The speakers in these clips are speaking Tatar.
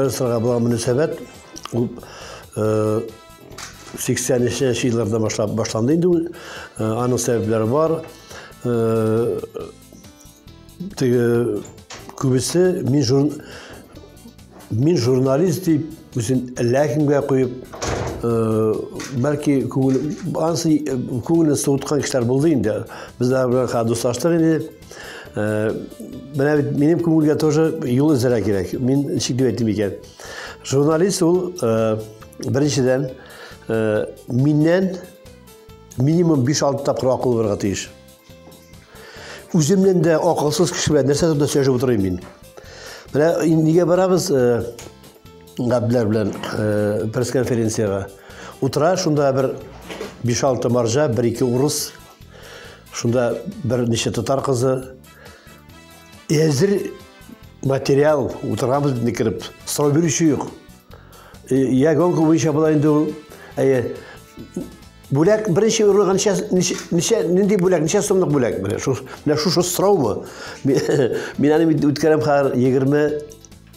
Сырга булган мөнәсәбәт ул 80-нче елларда башлап башланды инде. Аның сәбәпләре бар. теге күбесе мин жур мин журналист дип үзен ләкимгә куеп бәлки күңел ансы күңелен суыткан кешеләр булды инде безләр белән дуслаштык инде менә бит минем күңелгә тоже юл эзләргә кирәк мин ничек дип әйтим икән журналист ул беренчедән миннән минимум биш алты тапкыр акыл булырга тиеш Үземнен дә акылсыз кеше белән нәрсә турында сөйләшеп утырыйм мин. Менә нигә барабыз э, Габдләр белән э, пресс-конференциягә? Утыра шунда бер 5-6 маржа, 1-2 урыс, шунда бер ничә татар кызы. Әзер материал утырабыз бит кереп, сорау бирүче юк. Э, я гонка буенча була инде ул. Әйе, Бүләк беренче урлыгы ничә ничә нинди бүләк, ничә сумлык бүләк? Менә шу менә шушы сорау бу. Мин аны үткәрәм хәзер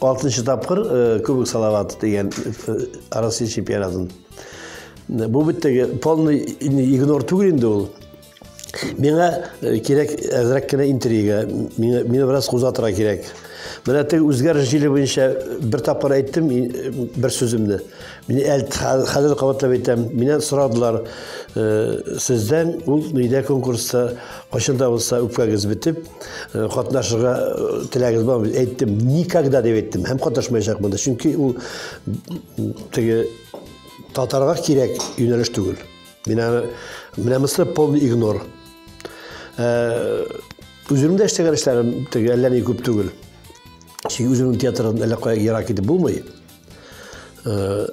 26 тапкыр э, Кубок Салават дигән э, Россия чемпионатын. Бу бит теге полный игнор түгел инде ул. Миңа э, кирәк әзрәк кенә интрига, миңа, миңа бераз кузатыра кирәк. Менә теге үзгәреш җиле буенча бер тапкыр әйттем э, бер сүземне. Мин әлт хәзер кабатлап әйтәм. Миннән сорадылар, э, сездән ул нидә конкурста кайчан да булса үпкәгез бетеп, э, катнашырга теләгез бармы? Әйттем, никогда дип әйттем. Һәм катнашмаячакмын да, чөнки ул теге татарга кирәк юнәлеш түгел. Мин аны менә мисыр полный игнор. Э, үземдә эшләгән эшләрем теге әллә ни күп түгел. Чөнки үземнең театрдан әллә кая ерак китеп булмый. Э,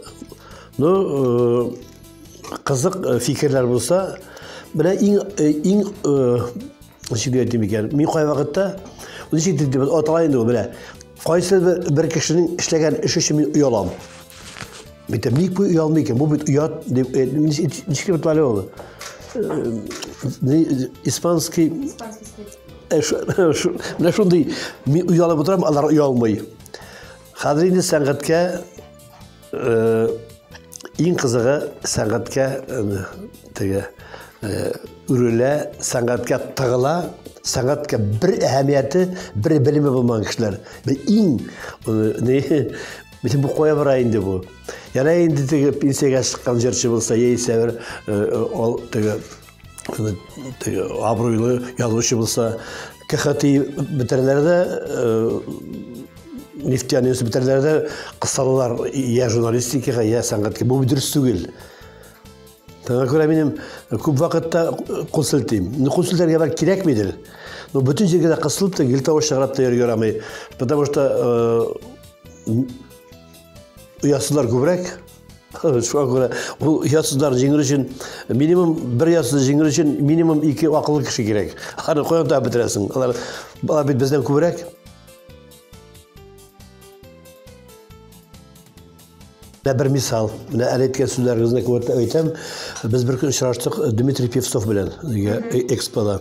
ну, э, кызык фикерләр булса, менә иң иң Ничек әйтим икән? Мин кай вакытта ничек дип дип атала инде ул белә. Кайсы бер кешенең эшләгән эше өчен мин оялам. Бит ник бу оялмый икән? Бу бит оят дип э, ничек дип атала ул? Э, испанский э, менә шундый мин оялып утырам, алар оялмый. Хәзер инде сәнгатькә Э, иң кызыгы сәнгатькә э, теге э, үрелә, сәнгатькә тыгыла, сәнгатькә бер әһәмияте, бер белеме булмаган кешеләр. Иң не Мисен бу кая бара инде бу? Яна инде теге пенсиягә чыккан җырчы булса, яисә бер ол теге абруйлы язучы булса кхти бетерәләр дә нефтяный бетерәләр дә кысалалар я журналистикага я сәнгатькә бу дөрес түгел Таңа күрә минем күп вакытта кул селтим. Ну, кул селтәргә бәлки кирәкмидер. Но бөтен җиргә дә кысылып та, гел тавыш чыгарып та йөргә ярамый. Потому что э, оясызлар күбрәк, Шуңа күрә бу ясызлар җиңер өчен минимум бер ясыз җиңер өчен минимум ике акыллы кеше кирәк. Аны каян табып бетерәсең? Алар алар бит бездән күбрәк. Менә бер мисал. Менә әле әйткән сүзләрегезне күрәтә әйтәм. Без бер көн очраштык Дмитрий Певцов белән экспода.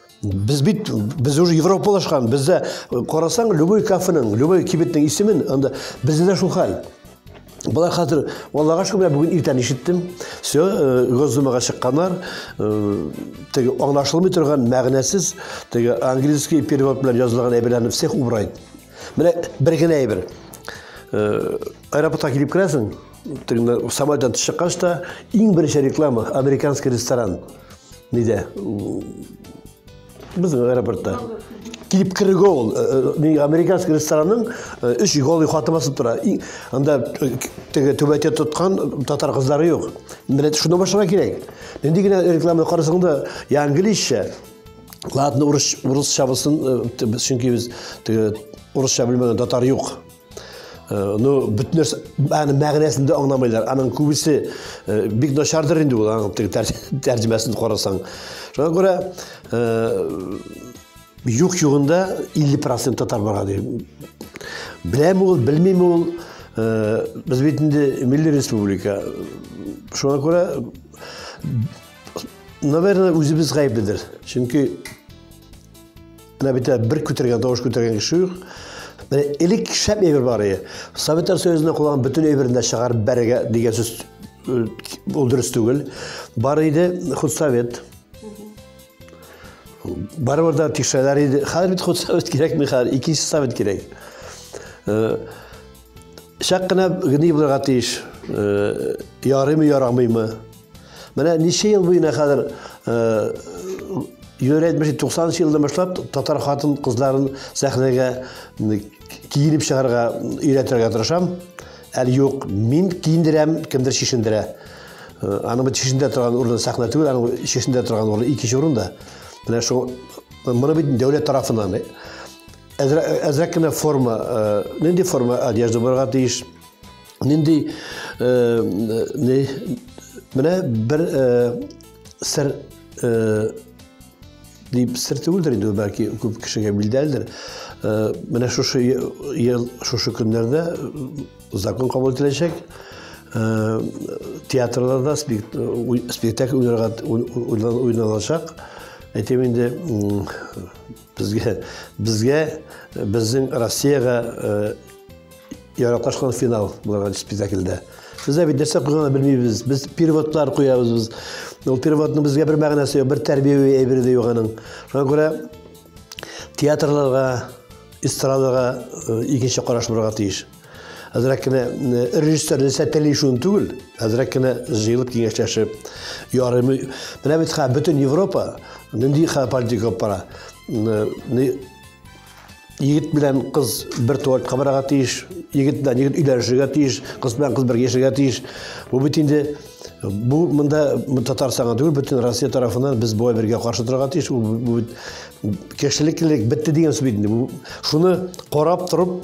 Без бит без уже европалашкан, бездә карасаң, любой кафеның, любой кибетнең исемен, анда бездә дә шул хәл. Болар хәзер, Аллага шөкер, бүген иртән ишеттем. Все, э, Госдумага чыкканнар. Э, теге аңлашылмый торган мәгънәсез, теге английский перевод белән язылган әйберләрне всех убрать. Менә бер генә әйбер. Э, аэропортка килеп керәсең, Тегеннәр самолеттан төшеп чыккач та иң беренче реклама американский ресторан. Нидә? Безнең аэропортта. Килеп керүгә ул э, э, ни американский ресторанның э, өч голый хаты басып тора. И, Анда э, теге түбәтә тоткан татар кызлары юк. Милләт шуны башларга кирәк. Нинди генә реклама карасаң да, я английча, ладно, урыс урысча булсын, э, т- чөнки без теге урысча белмәгән татар юк. ну бөтен нәрсә аны мәгънәсен дә аңламайлар аның күбесе бик начардыр инде ул аның теге тәрҗемәсен карасаң шуңа күрә юк югында 50 процент татар барга ди беләме ул белмиме ул без бит инде милли республика шуңа күрә наверное үзебез гаепледер чөнки Менә бит бер күтәргән тавыш күтәргән кеше юк. Менә элек шәп әйбер бар иде. Советтар Союзында кулланган бөтен әйберне дә чыгарып бәрергә дигән сүз э, ул дөрес түгел. Бар иде худсовет. Барыбер дә тикшерәләр иде. Хәзер бит худсовет кирәкми хәзер, икенче совет кирәк. Э, Чак кына гни булырга тиеш. Э, ярыймы, ярамыймы? Менә ничә ел буена хәзер э, йөри әйтмешли, 90 елдан башлап татар хатын кызларын сәхнәгә киенеп чыгарга өйрәтергә тырышам. Әле юк, мин киендерәм, кемдер шешендерә. Э, аны бит шешендә торган урын сәхнә түгел, аны шешендә торган урын икенче урында. Менә шул моны бит дәүләт тарафыннан Әзрәк кенә форма, нинди форма одежда булырга тиеш? Нинди не менә бер сер дип сер түгелдер инде бәлки күп кешегә билдәлдер. Менә шушы ел шушы көннәрдә закон кабул ителәчәк. Театрларда спектакль уйналачак. Әйтәм инде Безгә, безгә, безнең Россиягә э, яраклашкан финал буларга спектакльдә. Сездә бит нәрсә куйганын белмибез. Без переводлар куябыз без. Ул переводның безгә бер мәгънәсе юк, бер тәрбияви әйбере дә юк аның. Шуңа күрә театрларга, эстрадага э, икенче караш булырга тиеш. әзрәк кенә режиссер нәрсә тели шуны түгел әзрәк кенә җыелып киңәшләшеп ярыймы менә бит хәзер бөтен европа нинди хәзер политика алып бара егет белән кыз бер туалетка барырга тиеш егет белән егет өйләнешергә тиеш кыз белән кыз бергә яшәргә тиеш бу бит инде бу монда татарстанга түгел бөтен россия тарафынан без болай бергә каршы торырга тиеш бу бит кешелеклелек бетте дигән сүз бит инде шуны карап торып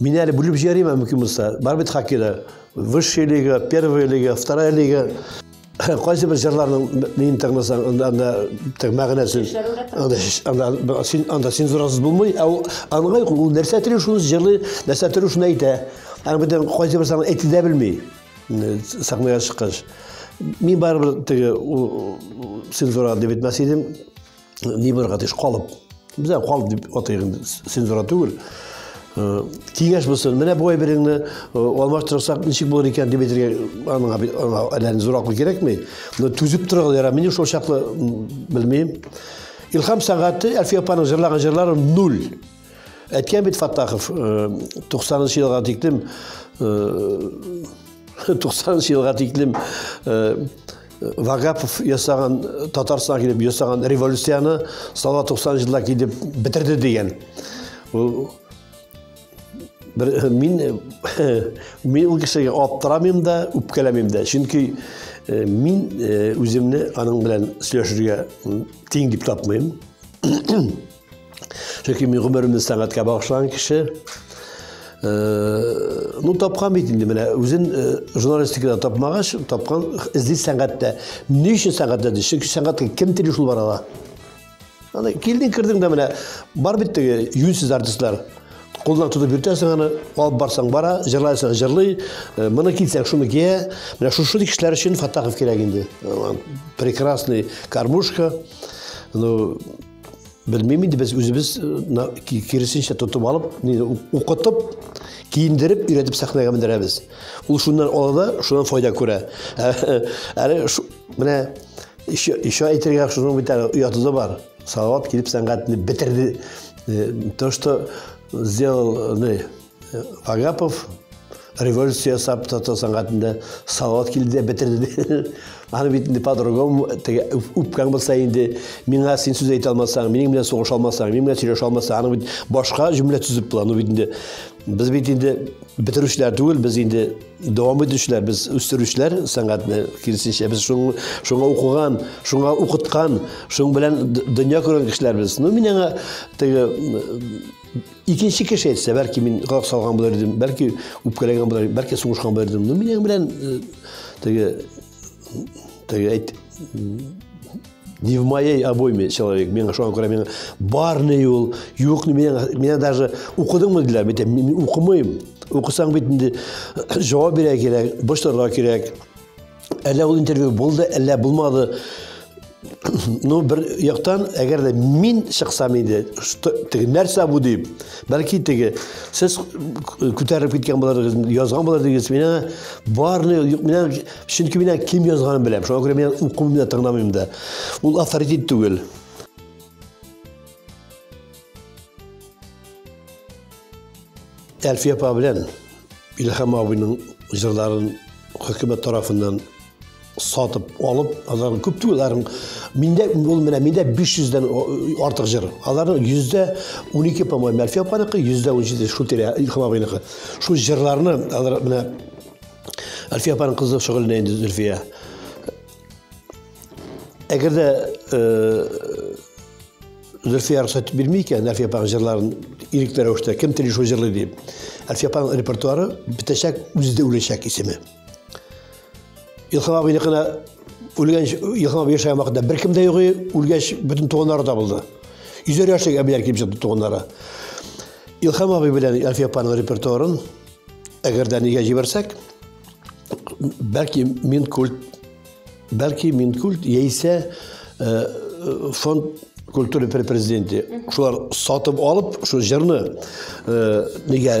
Мин әле бүлеп җибәрим, ә мөмкин булса. Бар бит хоккейда. Высшая лига, первая лига, вторая лига. Кайсы бер җырларның мин тыңласаң, анда анда тек мәгънәсен. Анда анда син анда син зурасыз булмый, ә ул аңлый ул нәрсә теле шуны җырлый, нәрсә теле шуны әйтә. Ә бүтән кайсы бер саңа әйтә дә белми. Сәхнәгә чыккач. Мин барыбер теге цензура дип әйтмәс идем. ни бер гадиш калып безә калып дип атыйк инде цензура түгел э, киңәш булсын менә бу әйбереңне э, алмаштырсак ничек булыр икән дип әйтергә аңа аңа әллә ни зур акыл кирәкми но түзеп торыгыз яра мин шул чаклы белмим илһам сәгате әлфия апаның җырлаган җырлары нуль Әйткән бит Фаттахов, 90 нчы елга тиклем 90 нчы елга тиклем Вагапов ясаган Татарстан килеп ясаган революцияне сала 90 җылда килеп бетерде дигән. Бер мин мин ул кешегә аптырамыйм да, үпкәләмим дә. Чөнки мин үземне аның белән сөйләшергә тиң дип тапмыйм. Чөнки мин гомеремне сәнгатькә багышлаган кеше. Э, ну, тапкан бит инде менә үзен э, журналистикада тапмагач, тапкан эзли сәнгатьтә. Ни өчен сәнгатьтә? Чөнки сәнгатькә кем тели шул барала? Аны килдең, кирдең дә менә бар бит теге юнсез артистлар. Кулдан тотып йөртәсең аны, алып барсаң бара, җырлайсың, җырлый. Э, моны китсәң, шуны кия. Менә шушы кешеләр өчен Фатахов кирәк инде. Прекрасный кармушка. Ну, Белмим инде без үзебез киресенчә тотып алып, укытып, киендереп, өйрәтеп сәхнәгә мендерәбез. Ул шуннан ала да, шуннан файда күрә. Әле менә еще еще әйтергә шуның бит әле ояты да бар. Салават килеп сәнгатьне бетерде. То, что сделал, Агапов революция ясап татар сәнгатендә салават килде дә бетерде. Аны бит инде по-другому теге үпкәң булса инде миңа син сүз әйтә алмасаң, минем белән сугыша алмасаң, минем белән сөйләшә алмасаң, аны бит башка җөмлә төзеп була. Аны бит инде без бит инде бетерүчеләр түгел, без инде дәвам итүчеләр, без үстерүчеләр сәнгатьне киресенчә. Без шуны шуңа укыган, шуңа укыткан, шуң белән дөнья күргән кешеләр без. Ну, мин аңа теге Икенче кеше әйтсә, бәлки мин гак салган булыр идем, бәлки үпкәләгән булыр, бәлки сугышкан булыр идем. Но минем белән э, теге теге әйт не в моей обойме человек. Миңа шуңа күрә миңа барны юл, юкны миңа, миңа даже укыдыңмы диләр, бит мин укымыйм. Укысаң бит инде җавап бирә кирәк, борчылырга кирәк. Әллә ул интервью булды, әллә булмады. Ну, бер яктан, әгәр дә мин чыксам иде, теге нәрсә бу дип, бәлки теге сез күтәреп киткән буларыгыз, язган буларыгыз, менә барны, менә чөнки менә кем язганын беләм. Шуңа күрә мин укымыйм да, тыңламыйм да. Ул авторитет түгел. Әлфия апа белән Илһам абыйның җырларын хөкүмәт тарафыннан сатып алып, аларның күп түгел, аларның миндә ул менә миндә 500-дән артык җыр. Аларның 112, по-моему, Әлфия апаныкы, 117 шул тирә Илһам абыйныкы. Шул җырларны алар менә Әлфия апаның кызы шөгыльләнә инде Зөлфия. Әгәр дә Зөлфия рөхсәт бирми икән Әлфия апаның җырларын ирекле рәвештә кем тели шул җырлый дип. Әлфия апаның репертуары бетәчәк, үзе дә үләчәк исеме. Илхам абыйны гына үлгән Илхам абый яшәгән вакытта беркем дә юк, үлгәч бөтен туганнары табылды. Йөзәр яшьлек әбиләр килеп чыкты туганнары. Илхам абый белән Әлфия апаның репертуарын әгәр дә нигә җибәрсәк, бәлки мин культ Бәлки Минкульт яисә фонд культура президенты шулар сатып алып, шул җырны нигә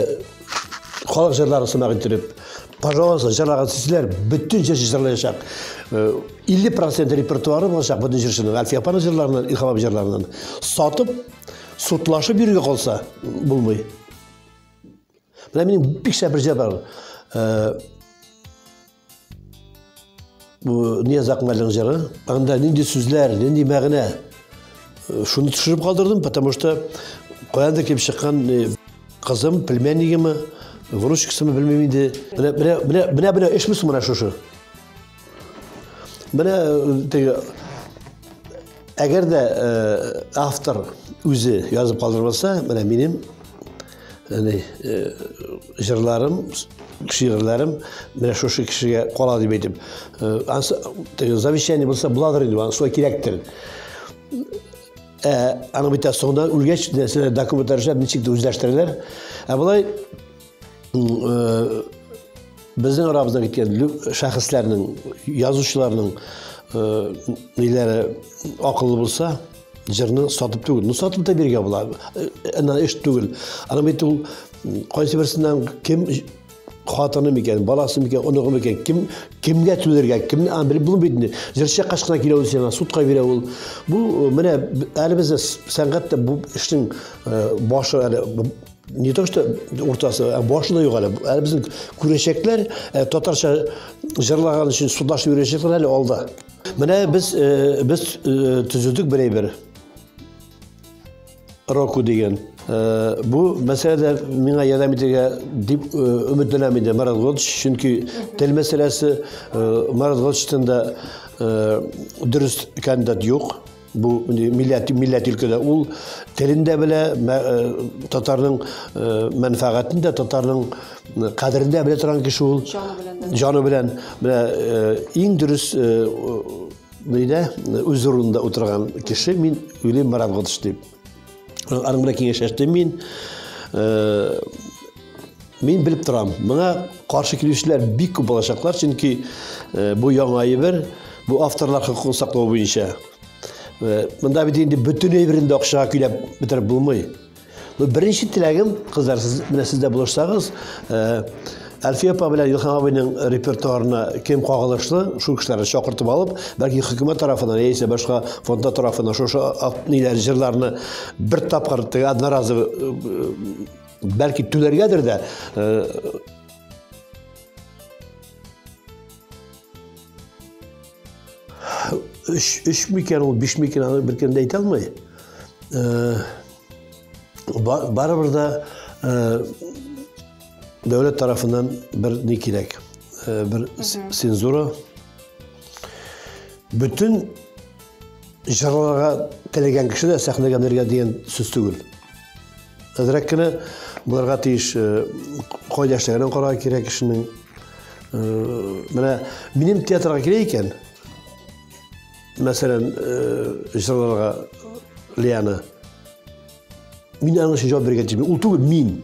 халык җырлары сымак иттереп, пожалуйста, җырлаган сүзләр бөтен җырчы җырлаячак. 50% репертуары булачак бөтен җырчының, Әлфия апаның җырларыннан, Илһам абый җырларыннан. Сатып, судлашып йөрергә калса, булмый. Менә минем бик шәп бер җыр бар. Бу Нияз Акмәлнең җыры. Анда нинди сүзләр, нинди мәгънә? Э, шуны төшереп калдырдым, потому что каяндыр килеп чыккан э, кызым, племяннигеме, внучкасымы белмим инде. Менә менә менә менә менә эшмис менә шушы. Менә э, теге Әгәр дә э, автор үзе язып калдырып алса, менә минем яни э, җырларым, шигырьләрем менә шушы кешегә кала дип әйтеп, э, ансы теге завещание булса буладыр инде, ансы кирәктер. Ә аны бит соңда үлгәч нәрсәләр документлар эшләп ничек тә үзләштерәләр. Ә болай Безнең арабызда киткән шәхесләрнең, язучыларның ниләре акыллы булса, җырны сатып түгел. Ну, сатып та биргә була. Ана эш түгел. Ана бит ул кайсы берсеннән кем хатыны микән, баласы микән, оныгы микән, кем кемгә түләргә, кем аны белеп булмый бит инде. Җырчы кашкына килә ул сиңа, судка бирә ул. Бу менә әле бездә сәнгатьтә бу эшнең башы әле не то что уртасы ә башы да юк әле әле безнең күрәчәкләр ә, татарча җырлаган өчен судашып йөрәчәкләр әле алда менә без ә, без ә, төзедек бер әйбер року дигән ә, бу мәсьәләдә миңа ярдәм итәргә дип ә, өметләнәм инде марат годович чөнки тел мәсьәләсе ә, марат годовичтан да ә, дөрес кандидат юк Бу милләт милләт өлкәдә ул телен дә белә, татарның мәнфәгатен дә, татарның кадерен дә белә торган кеше ул. Җаны белән. Менә иң дөрес нидә үз урынында утырган кеше мин Юлий Маратготович дип. Аның белән киңәшләштем мин. Э, мин белеп торам, моңа каршы килүчеләр бик күп булачаклар, чөнки э, бу яңа әйбер, бу авторлар хокукын саклау буенча. Э, монда бит инде бөтен әйберен дә акчага көйләп бетереп булмый. Беренче теләгем, кызлар, сез менә сез дә булышсагыз, Әлфия апа белән Илһам абыйның репертуарына кем кагылышлы, шул кешеләрне чакыртып алып, бәлки хөкүмәт тарафынан яисә башка фонда тарафынан шушы ниләр җырларны бер тапкыр теге одноразовый э, бәлки түләргәдер дә э, үш үш микән ул биш микән аны беркем дә әйтә алмый э, барыбер дә Дәүләт тарафыннан бер ни кирәк, э, бер цензура. Бөтен җырларга теләгән кеше дә сәхнәгә менергә дигән сүз түгел. Әзрәк кенә булырга тиеш э, кайда эшләгәнен карарга кирәк кешенең. Э, менә минем театрга килә икән, мәсәлән, җырларга Лиана Мин аның өчен җавап биргән җибе. Ул түгел мин.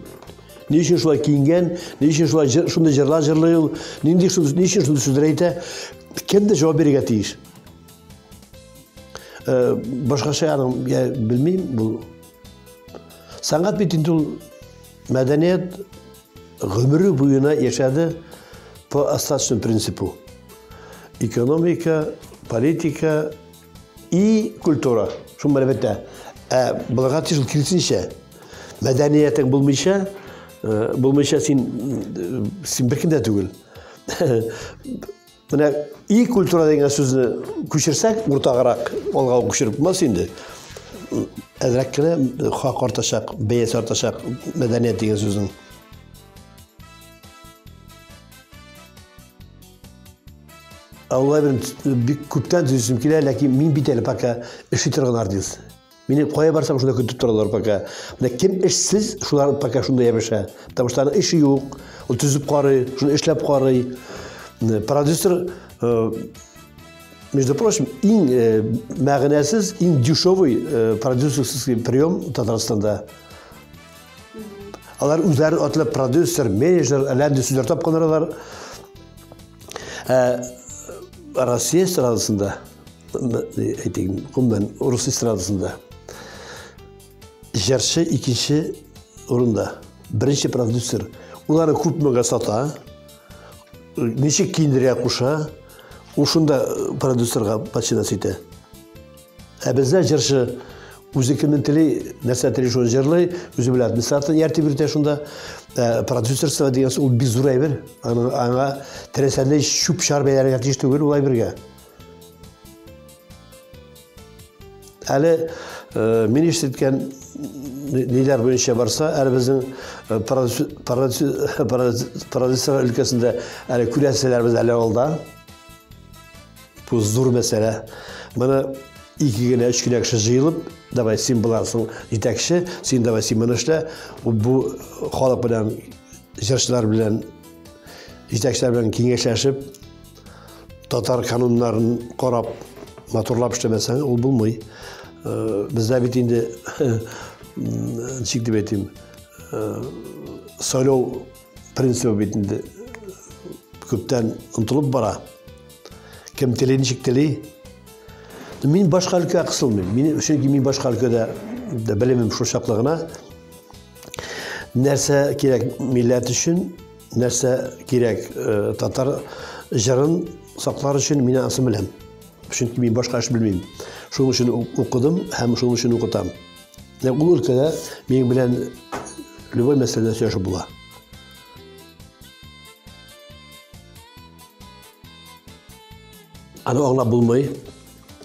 Ни өчен шулай киенгән? Ни өчен шулай шундый җырлар җырлый ул? Нинди шул ни өчен шундый сүзләр әйтә? Кем дә җавап бирергә тиеш. Э, башкача аның я белмим бу. Сәнгать бит инде ул мәдәният гомере буена яшәде по остаточному принципу. Экономика, политика, И культура, шул бер бетә. Ә булырга тиеш ул киресенчә. Мәдәниятең булмыйча, э, булмыйча син э, син беркем дә түгел. Менә и культура дигән сүзне күчерсәк, уртагырак алга күчереп булмас инде. Әзрәк кенә э, хак артачак, бәяс артачак мәдәният дигән сүзнең. Аллабин бик күптән төзүсем килә, ләкин мин бит әле пока эшли торган артист. Мине кая барсам шунда көтеп торалар пока. Менә кем эшсез, шулар пока шунда ябыша. Потому что аның эше юк. Ул төзеп карый, шуны эшләп карый. Продюсер э, Между прочим, иң э, мәгънәсез, иң дешевый э, продюсерский прием Татарстанда. Алар үзләре атлы продюсер, менеджер, әләнде сүзләр тапканнарлар. Ә Россия эстрадасында, әйтик, гомумән, урыс эстрадасында җырчы икенче урында, беренче продюсер. Улары күпмегә сата, ничек киендерә куша, ушында продюсерга починас итә. Ә бездә җырчы үзе кемнен тели, нәрсә тели шуны җырлый, үзе белән администратор ярдәм итә шунда. Ә, продюсерство дигән ул бик зур әйбер. Аны аңа теләсәдәй чүп чар бәйләргә тиеш түгел ул әйбергә. Әле э, мин ишеткән ниләр буенча барса, әле безнең э, продюсер өлкәсендә әле күрәселәрбез әле алда. Бу зур мәсьәлә. Моны ике генә, өч генә кеше җыелып, давай син буласың җитәкче, син давай син моны эшлә. Бу халык белән, җырчылар белән, җитәкчеләр белән киңәшләшеп, татар кануннарын карап, матурлап эшләмәсәң, ул булмый. Э, Бездә бит инде, ничек дип әйтим, э, сайлау принцибы бит инде күптән онтылып бара. Кем тели ничек тели? Мин башка өлкә кысылмыйм. Мин чөнки мин башка өлкәдә дә белемем шул чаклы гына. Нәрсә кирәк милләт өчен, нәрсә кирәк э, татар җырын саклар өчен мин аны беләм. Чөнки мин башка эш белмим. Шуның өчен укыдым һәм шуның өчен укытам. Менә ул өлкәдә минем белән любой мәсьәләдә сөйләшеп була. Аны аңлап булмый.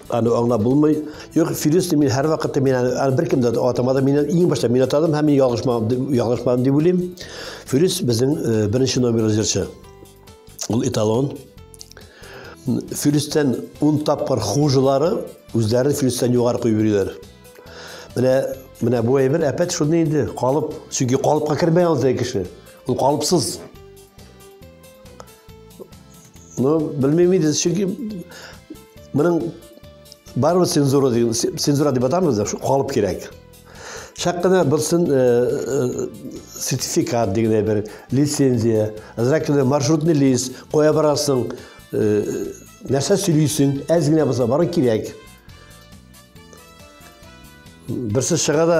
Аны аңлап булмый. Юк, Фирүсне мин һәр вакытта мин аны беркем дә атамады. Мин иң башта мин атадым һәм мин ялгышмадым, ялгышмадым дип уйлыйм. Фирүс безнең э, беренче номерлы җырчы. Ул эталон. Филистен ун тапкыр хужылары үзләрен филистен югары куеп йөриләр. Менә менә бу әйбер әпәт шуны инде, калып. Чөнки калыпка кермәй ул теге кеше. Ул калыпсыз. Ну, белмим инде, чөнки моның барыбер цензура дигән цензура дип атамыз да, калып кирәк. Шәк кенә булсын э, э, сертификат дигән бер лицензия, азрак кенә маршрутный лист куя барасың, э, нәрсә сөйлисең, әз генә булса бары кирәк. Берсе чыга да,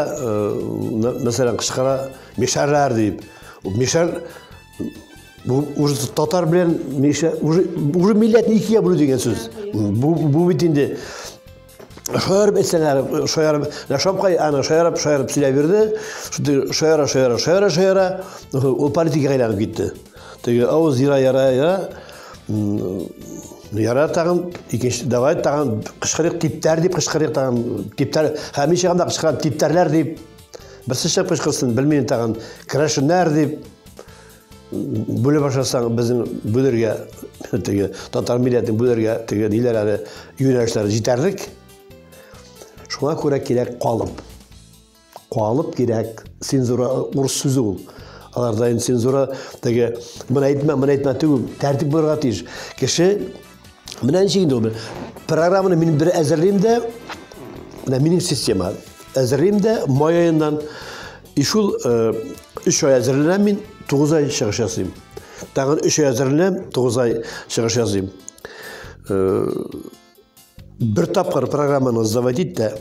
мәсәлән, кышкара мешәрләр дип. Мешәр Бу уже татар белән уже уже милләтне икегә бүлү дигән сүз. Бу бу бит инде Шаярып әйтсәләр, шаярып, Шапкай аны шаярып, шаярып сөйләп бирде. Шуды шаяра, шаяра, шаяра, шаяра, ул политикага әйләнеп китте. Теге авыз яра, яра, яра. Яра тагын икенче давай тагын кычкырык типтәр дип кычкырык тагын типтәр һәм ничә гына кычкырган типтәрләр дип берсеше кычкырсын белмим тагын крашеннар дип Бүле башласаң, безнең бүлергә, теге, татар милләтен бүлергә, теге, ниләр әле, юнәлешләр җитәрлек. Шуңа күрә кирәк калып. Калып кирәк. Цензура, урыс сүзе ул. Аларда инде цензура, теге, мына әйтмә, мына әйтмә, теге, тәртип булырга тиеш. Кеше Менә ничек инде ул. Программаны мин бер әзерлим дә, менә минем система. Әзерлим дә май аеннан и шул 3 ай әзерләнәм мин, 9 ай чыгыш ясыйм. Тагын 3 ай әзерләнәм, 9 ай чыгыш ясыйм. Бер тапкыр программаны сдавать ит тә,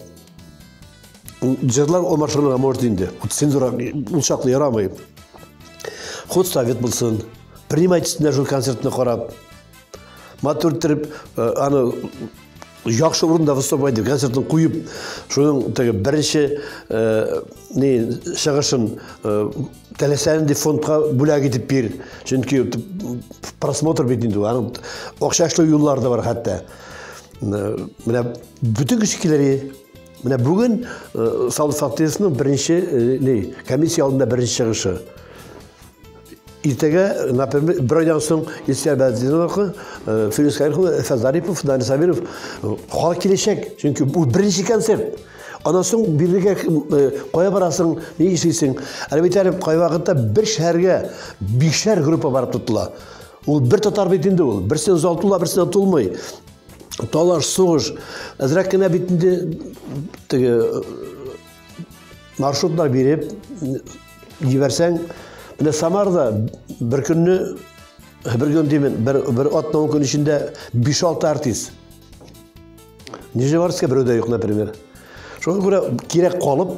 җырлар ул машинага может инде. Цензура ул чаклы ярамый. Ход совет булсын. Принимать итсеннәр шул концертны карап. матур иттереп э, аны яхшы урында выступать итеп концертын куеп шуның теге беренче э, не чыгышын э, теләсәң дип фондка бүләк итеп бир чөнки просмотр бит инде аның акча эшләү юллары да бар хәтта менә бөтен кеше килер менә бүген саулык фактисының беренче не комиссия алдында беренче чыгышы Иртәгә, например, бер айдан соң Ильсияр Бәдзиновка, э, Фирис Кайрхова, Эфәт Зарипов, Данис Сабиров э, халык киләчәк. Чөнки бу беренче концерт. Аннан соң бирегә э, кая барасың, ни эшлисең? Әле бит әле кай вакытта бер шәһәргә бишәр группа барып тотыла. Ул бер татар бит инде ул. Берсен зал тула, берсен тулмый. Талаш, сугыш. Әзрәк кенә бит инде теге маршрутлар биреп җибәрсәң, менә Самарда бер көнне бер көн димин, бер бер атна ун көн эчендә 5-6 артист. Нижневартовска берүдә юк, например. Шуңа күрә кирәк калып,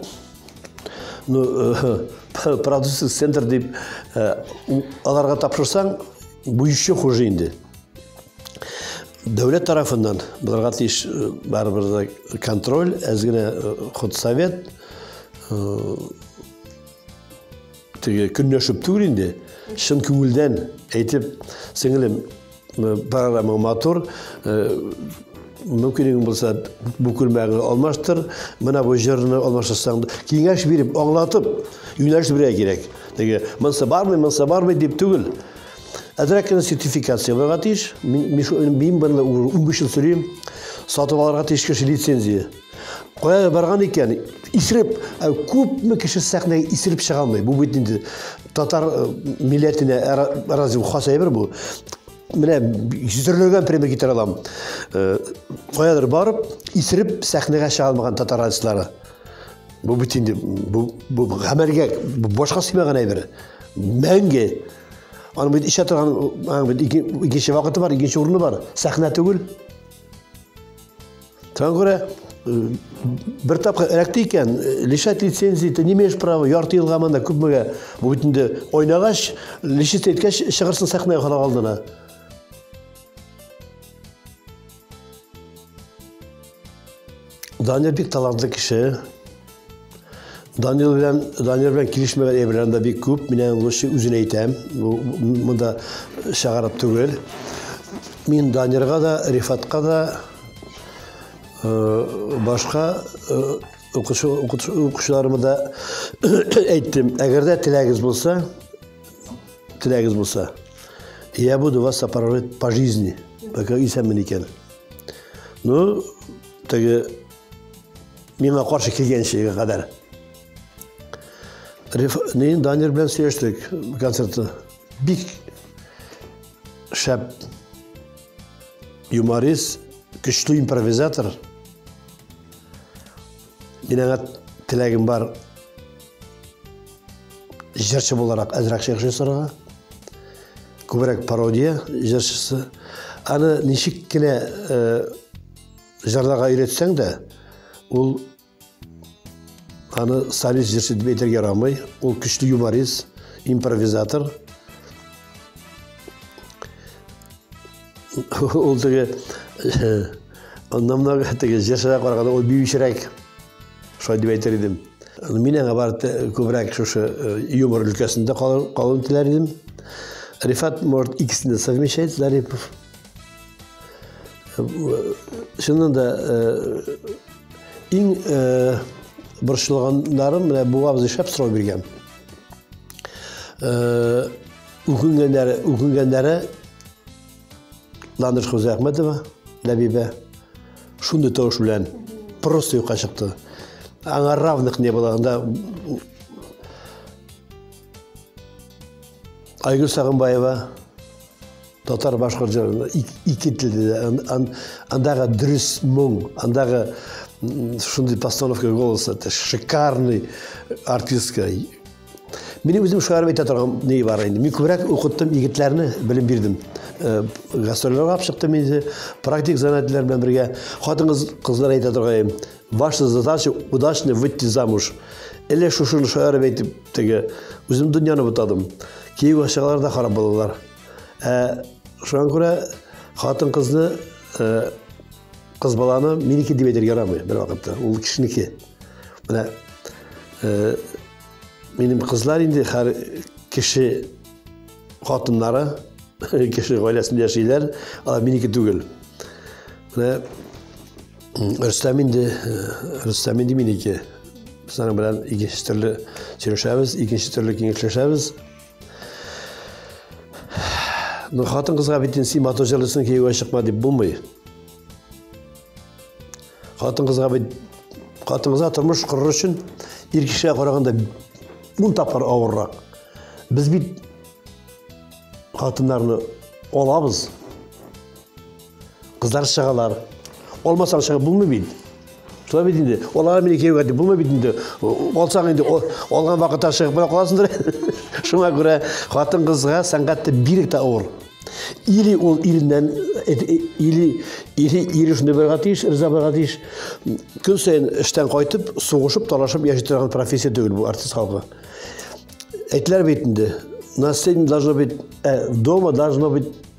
ну, э, продюсер центр дип э, аларга тапшырсаң, буючы хуже инде. дәүләт тарафыннан боларга тиеш э, барыбер да контроль әз генә э, худсовет э, теге көнләшеп түгел инде чын күңелдән әйтеп сеңелем программа матур мөмкинлегең булса бу күлмәгеңне алмаштыр менә бу җырны алмаштырсаң киңәш биреп аңлатып юнәлеш бирә кирәк теге монысы бармы монысы бармы дип түгел Әзрәк кенә сертификат сыйларга тиеш. Мин, мин шул мин бында 15 ел сөрим. Сатып алырга тиеш кеше лицензия. Кая барган икән? Исереп, ә күпме кеше сәхнәгә исереп чыга алмый. Бу бит инде татар э, милләтенә ә, разве хас әйбер бу? Менә җөзерләгән пример китерә алам. Э, каядыр барып, исереп сәхнәгә чыга алмаган татар артистлары. Бу бит инде бу бу гамәлгә башка сыймаган әйбер. Мәңге аны бит ишә торган аны бит икенче вакыты бар, икенче урыны бар. Сәхнә түгел. Тәңгүрә э, бер тапкыр эләкте икән, э, лишать лицензии, ты не имеешь права, ярты елга монда күпмегә. Бу бит инде ойнагач, лишить иткәч чыгырсын сәхнәгә халык алдына. Данир бик талантлы кеше. Данир белән Данир белән килешмәгән әйберләр дә бик күп. Мин аны лучше үзен әйтәм. Бу монда чыгарып түгел. Мин Данирга да, Рифатка да э, башка э, укучыларыма да әйттем. Әгәр дә теләгегез булса, Теләгез булса. Я буду вас сопровождать по жизни. Пока исәнмен икән. Ну, теге миңа каршы килгәнчегә кадәр. Ни Данир белән сөйләштек концертта. Бик шәп юморист, көчле импровизатор – Мин аңа теләгем бар җырчы буларак әзрәк шигырь җырсырга. Күбрәк пародия җырчысы. Аны ничек кенә э, җырларга өйрәтсәң дә, ул аны солист җырчы дип әйтергә ярамый. Ул көчле юморист, импровизатор. Ул теге аннан теге җырчыга караганда ул биючерәк. Шулай дип әйтер идем. Мин аңа бар күбрәк шушы юмор өлкәсендә калын теләр идем. Рифат может икесен дә совмещать, Зарипов. Шуннан да иң борчылганнарым менә бу абзый шәп сорау биргән. Үкенгәннәре, үкенгәннәре Ландыш Хузәхмәтова, Ләбибә, шундый тавыш белән просто юкка чыкты. Аңа равных не было. Анда Айгүл Сагынбаева, татар башкорт җырында ике телдә андагы дөрес моң андагы шундый постановка голоса это шикарный артистка Минем үзем шаярып әйтә торган ни бар инде. Мин күбрәк укыттым егетләрне, белем бирдем. Э, Гастрольләргә чыктым инде, практик занятиеләр белән бергә. Хатын кызлар әйтә торган, ваша задача удачно выйти замуж. Әле шушыны шаярып әйтеп теге, үзем дөньяны бутадым. Киев ашагалар да харап булдылар. Ә шуңа күрә хатын кызны э, Кыз баланы минеке дип әйтергә ярамый бер вакытта. Ул кешенеке. Менә э, минем кызлар инде хәр кеше хатыннары кеше гаиләсендә яшиләр, алар минеке түгел. Менә Рөстәм инде э, Рөстәм инде минеке. Без аның белән икенче төрле сөйләшәбез, икенче төрле киңәшләшәбез. Ну, хатын кызга бит инде син матур җырлыйсың, кияүгә чыкма дип булмый. Хатын кызга бит хатын кызга тормыш корыр өчен ир кешегә караганда ун тапкыр авыррак. Без бит хатыннарны алабыз, Кызлар чыгалар. Алмасаң чыгып булмый бит. Шулай бит инде. Алар мине кияүгә дип булмый бит инде. Алсаң инде алган вакытта чыгып бара каласыңдыр. Шуңа күрә хатын кызга сәнгатьтә бирек тә авыр. Или ул иреннән э, э, или или ире шундый булырга тиеш, риза булырга тиеш. Көн саен эштән кайтып, сугышып, талашып яши торган профессия түгел бу артист халкы. Әйтеләр бит инде. На сцене должно быть, э, дома должно быть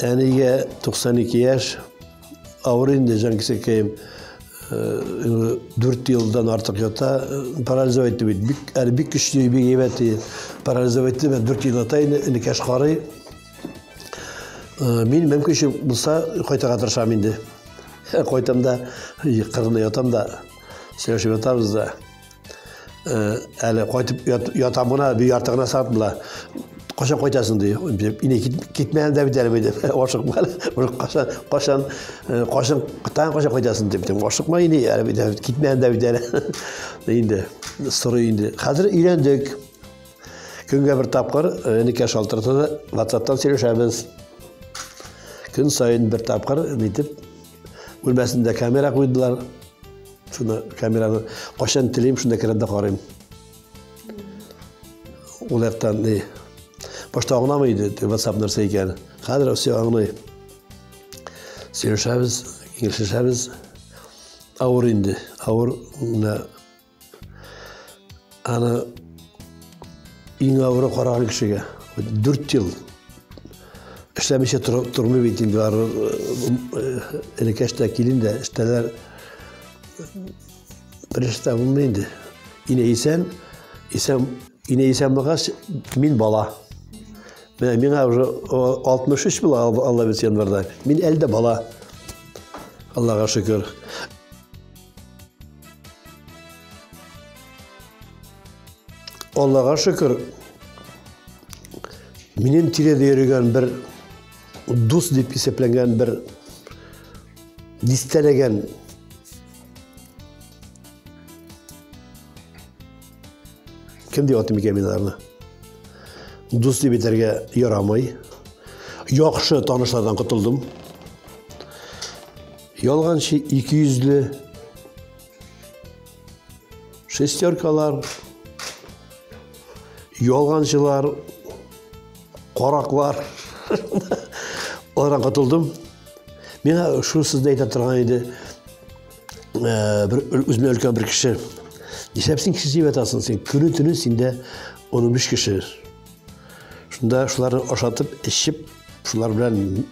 Әнигә 92 яшь, авыр инде Җанкисәкәем. Э, дүрт елдан артык ята, парализов итте бит. Бик, әле бик көчле, бик әйбәт иде. Парализов итте, мен дүрт ел ята инде, энекәш карый. Э, мин мөмкинче булса кайтырга тырышам инде. Кайтам да, кырында ятам да, сөйләшеп ятабыз да. Э, әле кайтып ятам гына бер ярты гына сәгать була кашан кайтасың ди инде китмәгән дә бит әле бит ашыкма әле кашан кашан э, кашан таң кашан кайтасың дип ашыкма инде әле бит китмәгән дә бит әле инде сорый инде хәзер өйләндек көнгә бер тапкыр э, энекә шалтырата да ватсаптан сөйләшәбез көн саен бер тапкыр нитеп Бүлмәсендә камера куйдылар. Шуны камераны кайчан телим, шунда керәм дә карыйм. Ул яктан ни? Башта аңламый иде, WhatsApp нәрсә икән. Хәзер все аңлый. Сөйләшәбез, киңәшләшәбез. Авыр инде, авыр менә Аны иң авыры караган кешегә. Дүрт ел эшләмичә тормый бит инде ары элекәш тә килен дә эштәләр береште булмый инде. Инә исән, исән, инә исән булгач, мин бала. Менә миңа уже 63 була Алла бит январьда. Мин әлдә бала. Аллага шөкер. Аллага шөкер, минем тирәдә йөргән бер дус дип исәпләнгән бер дистәләгән кем дип атыйм икән мин аларны дус дип әйтергә ярамый яхшы танышлардан котылдым Ялганчы ике йөзле. Шестеркалар. Ялганчылар. Караклар. Олардан котылдым. Миңа шул сүзне әйтә торган иде. Э, бер үзенә өлкән бер кеше. Нишләп син кеше дип атасың? Син көне төне синдә 15 кеше. Шунда шуларны ашатып, эчеп, шулар белән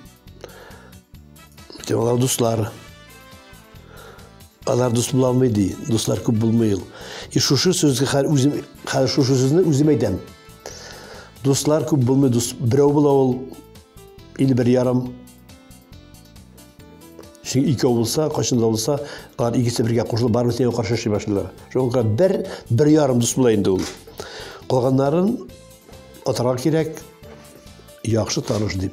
Алар дуслар. Алар дус була алмый ди. Дуслар күп булмый ул. И шушы сүзгә хәл үзем хәл шушы сүзне үзем әйтәм. Дуслар күп булмый, дус берәү була ул или бер ярым. Ши икәү булса, кайчан да булса, алар икесе бергә кушылып барып сине каршы эшли башлыйлар. Шуңа бер бер ярым дус була инде ул. Калганнарын атарга кирәк. Яхшы таныш дип.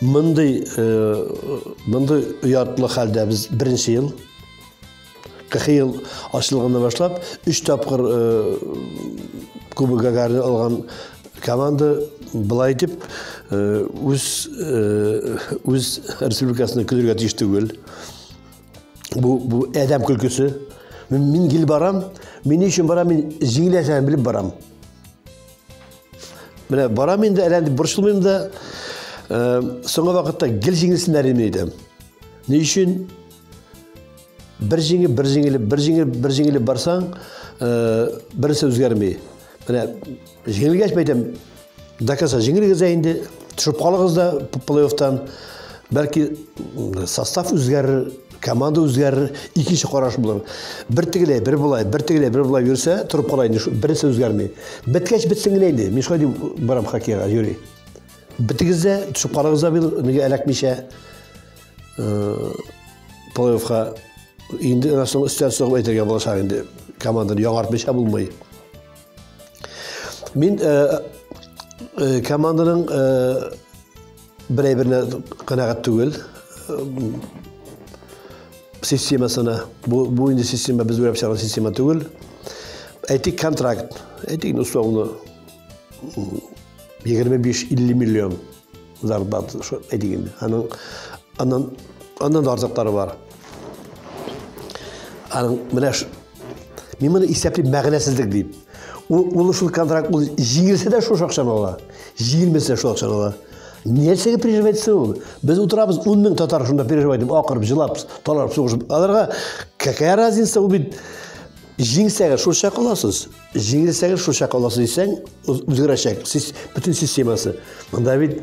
Мондый мондый оятлы хәлдә без беренче ел кырхы ел ачылганда башлап өч тапкыр кубок гагарин алган команда былай итеп үз үз республикасына көлергә тиеш түгел бу бу әдәм көлкесе мин гел барам мин өчен барам мин җиңеләсәм белеп барам Менә барам инде, әле андый борчылмыйм да. Э, соңгы вакытта гел җиңелсеннәр инде идем. Ни өчен? Бер җиңе, бер җиңеле, бер җиңе, бер җиңеле барсаң, э, берсе үзгәрми. Менә җиңелгәч бәйтәм, дакаса җиңелгез инде, төшеп калыгыз да плей-оффтан. Бәлки состав үзгәрер, Команда үзгәрер, икенче караш булыр. Бер тегеләй, бер болай, бер тегеләй, бер болай йөрсә, торып кала инде, берсе үзгәрми. Беткәч бетсен генә инде. Мин шулай дип барам хоккейга, Юрий. Битегез дә, төшеп карагыз да бил, нигә эләкмичә. Э, Плей-оффка инде аннан соң өстән сыгып әйтергә булачак инде. Команданы яңартмыйча булмый. Мин э, э, команданың Берәй берне канәгать түгел. Системасына. Бу, бу инде система, без үрәп чыгарган система түгел. Әйтик, контракт. Әйтик, ну, соңны 25-50 миллион зарплат, әйтик инде. Аның, аннан, аннан да артыклары бар. Аның, менә Мин моны исәплим мәгънәсезлек дип. Ул улы шул контракт ул җиңелсә дә шул акчаны ала. Җиңелмәсә шул акчаны ала. Нәрсәгә переживать итсен ул? Без утырабыз 10 мең татар шунда переживать итеп, акырып, җылап, таларып, сугышып. Аларга какая разница ул бит җиңсәгез шул чак аласыз. Җиңелсәгез шул чак аласыз дисәң, үзгәрәчәк. Сез бөтен системасы. Монда бит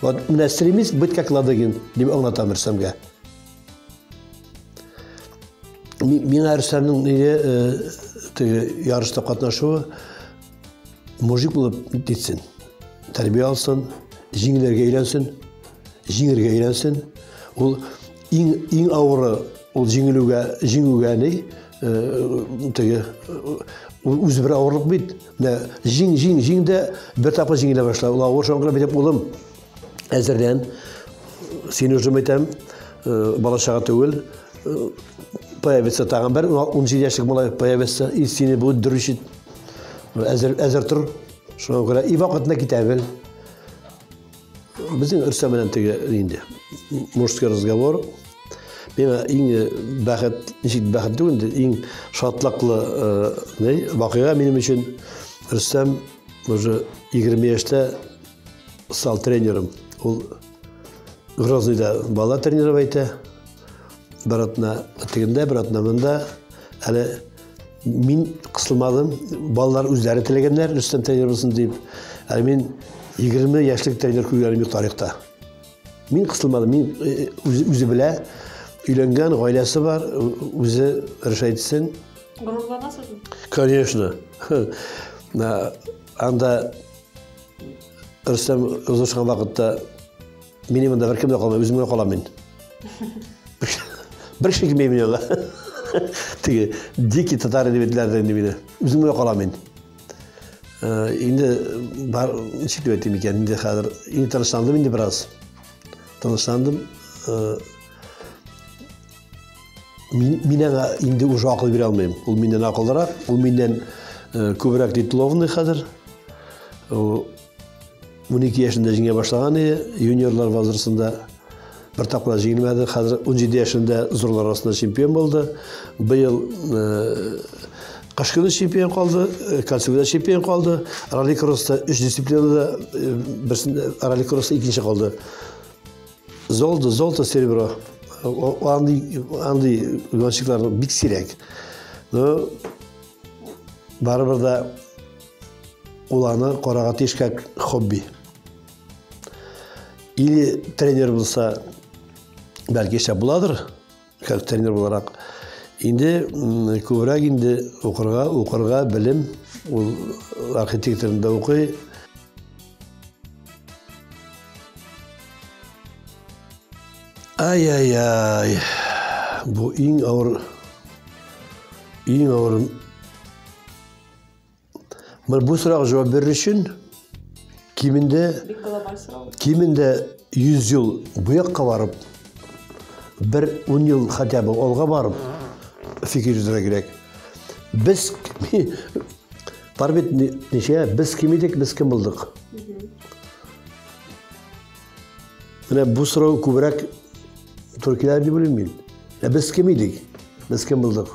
Вот не стремись быть как Ладыгин, дип аңлатам Рөстәмгә. Миңа Рөстәмнең нигә э, теге ярышта катнашуы мужик булып титсен. Тәрбия алсын, җиңеләргә өйрәнсен, җиңергә өйрәнсен. Ул иң иң авыры ул җиңелүгә, җиңүгә ни, э, теге э, үзе бер авырлык бит. Дә, җиң, җиң, җиң дә бер тапкыр җиңелә башла. Ул авыр шуңа күрә бит, улым, әзерлән. Син уже әйтәм, э, бала чага түгел. Э, появится тагын бер 17 яшьлек малай появится, и сине будет дрючить. Әзер, әзер тор. Шуңа күрә и вакытына китә бел. Безнең Рөстәм белән теге инде мужской разговор. Миңа иң э, бәхет, ничек бәхет түгел инде, иң шатлыклы э, вакыйга минем өчен Рөстәм уже 20 яшьтә стал тренером. Ул Грозныйда бала тренировать итә. Бер атна тегендә, бер атна монда. Әле мин кысылмадым. Балалар үзләре теләгәннәр, Рөстәм тренер булсын дип. Әле мин 20 яшьлек тренер күргәнем юк тарихта. Мин кысылмадым, мин э, үзе, үзе белә. Өйләнгән, гаиләсе бар, үзе решать итсен. Горурланасызмы? Конечно. Анда Рөстәм узышкан вакытта Минем монда беркем дә калмый, үзем генә калам мин. Бер кеше килмей мин анда. Теге дикий татар дип әйттеләр инде мине. Үзем генә калам мин. Э, инде бар ничек дип әйтим икән, инде хәзер инде тынычландым инде бераз. Тынычландым. Э, мин мин аңа инде уже акыл бирә алмыйм. Ул миннән акыллырак, ул миннән э, күбрәк дитловный хәзер. 12 яшендә җиңә башлаган иде, юниорлар возрастында бер тапкыр җиңелмәде. Хәзер 17 яшендә зурлар арасында чемпион булды. Быел кыш көне чемпион калды, кольцевода чемпион калды. Ралли кросста 3 дисциплинада берсендә ралли кросста икенче калды. Золото, золото, серебро. Анды, анды гонщиклар бик сирәк. Но барыбер да Ул аны карага тиеш как хобби. Или тренер булса, бәлки эшләп буладыр, как тренер буларак. Инде күбрәк инде укырга, укырга белем, ул архитекторында укый, Ай-яй-яй. Бу иң ауыр иң ауыр Бу сорауга җавап бирер өчен кимендә кимендә 100 ел бу якка барып, бер 10 ел хотя бы алга барып фикер йөртергә кирәк. Без бар бит ничә, без кем идек, без кем булдык? Менә бу сорау күбрәк туркилар дип уйлыйм мин. Ә без кем идек? Без кем булдык?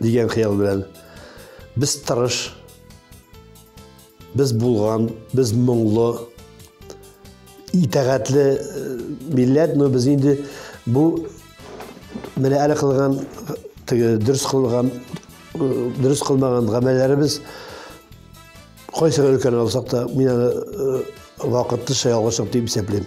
Дигән хыял белән без тырыш, без булган, без моңлы, итәгатьле э, милләт, но без инде бу менә әле кылган теге дөрес кылган э, дөрес кылмаган гамәлләребез кайсы өлкән алсак та мин аны э, вакытлыча ялгышлык дип исәплим.